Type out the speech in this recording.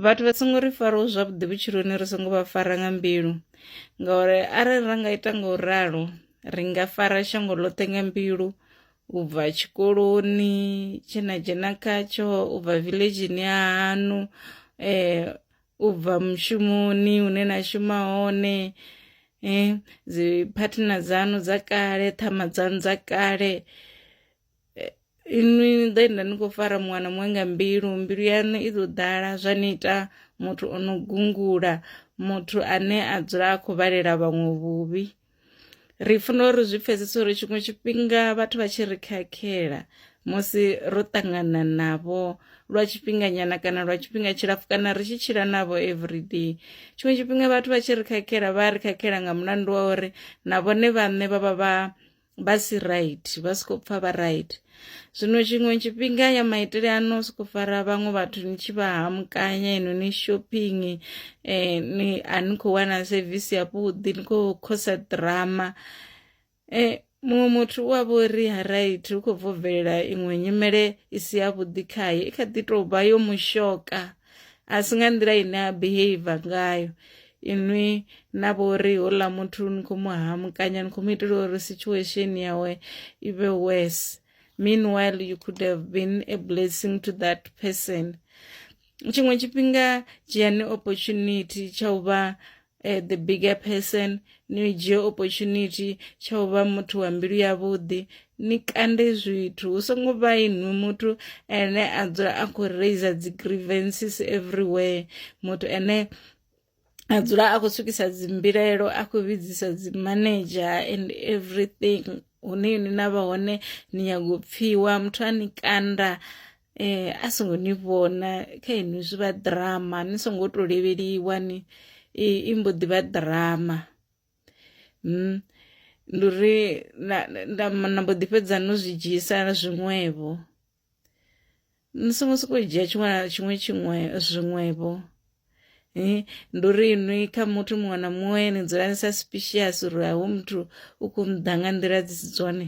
vhathu vha songo ri faraho zwavhuḓi vhutshiloni ri songo vha fara nga mbilu ngauri arali ra nga ita nga u ralo ri nga fara shango ḽoṱhe nga mbilu u bva tshikoloni tshe na dzhena khatsho u bva villageni ya hanu eh u bva mushumoni hune na shuma hone eh dzi partner dzanu dza kale ṱhama dzanu dza kale inwi ni ḓo enda ni khou fara muwana muṅwe nga mbilu mbilu yaṋu i ḓo ḓala zwa ni ita muthu o no gungula muthu ane a dzula a khou vhalela vhaṅwe vhuvhi ri funa uri zwi pfesese uri tshiṅwe tshifhinga vhathu vha tshi ri khakhela musi ro ṱangana navho lwa tshifhinganyana kana lwa tshifhinga tshilapfhu kana ri tshi tshila navho everyday tshiṅwe tshifhinga vhathu vha tshi ri khakhela vha ri khakhela nga mulandu wa uri na vhone vhaṋe vha vha vha vha si right vha si khou pfha vha right zwino tshiṅwe tshifhinga ya maitele ano soko fara vhaṅwe vhathu ni tshi vha hamukanya ino ni shopping eh, ni a ni khou wana sevisi yavhuḓi ni khou khosa drama eh, muṅwe muthu u a vha uri ha right u khou bvo bvelela iṅwe nyimele i si yavhuḓi khaye i kha ḓi tou vha yo mushoka a si nga nḓila ine a behavior ngayo inwi na vho ri houḽa muthu ni khou mu hamukanya ni khou mu itela uri situation yawe i vhe worse meanwhile you could have been a blessing to that person tshiṅwe tshifhinga dzhiani opportunity tsha u vha Eh, the bigger person ni dzhie opportunity tsha u vha muthu wa mbilu yavhuḓi ni kande zwithu hu songo vha inwi muthu ene a dzula a khou raiser dzi grievances everywhere muthu ene a dzula a khou swikisa dzimbilaelo a khou vhidzisa dzimanager and everything hune ni na vha hone ni nyago u pfhiwa muthu a ni kanda eh a songo ni vhona kha inwi zwi vha ḓirama ni songo to levheliwa ni i mbo ḓi vha ḓirama mm ndi uri nda mbo ḓi fhedza no zwi dzhisa zwiṅwevho ni songo sokou dzhia tshiṅwe na tshiṅwe tshiṅwe zwiṅwevho eh, ndi uri inwi kha muthu muṅwe na muṅwe ni dzula ni sa suspicious uri hoyu muthu u khou mu ḓa nga nḓila dzi si dzone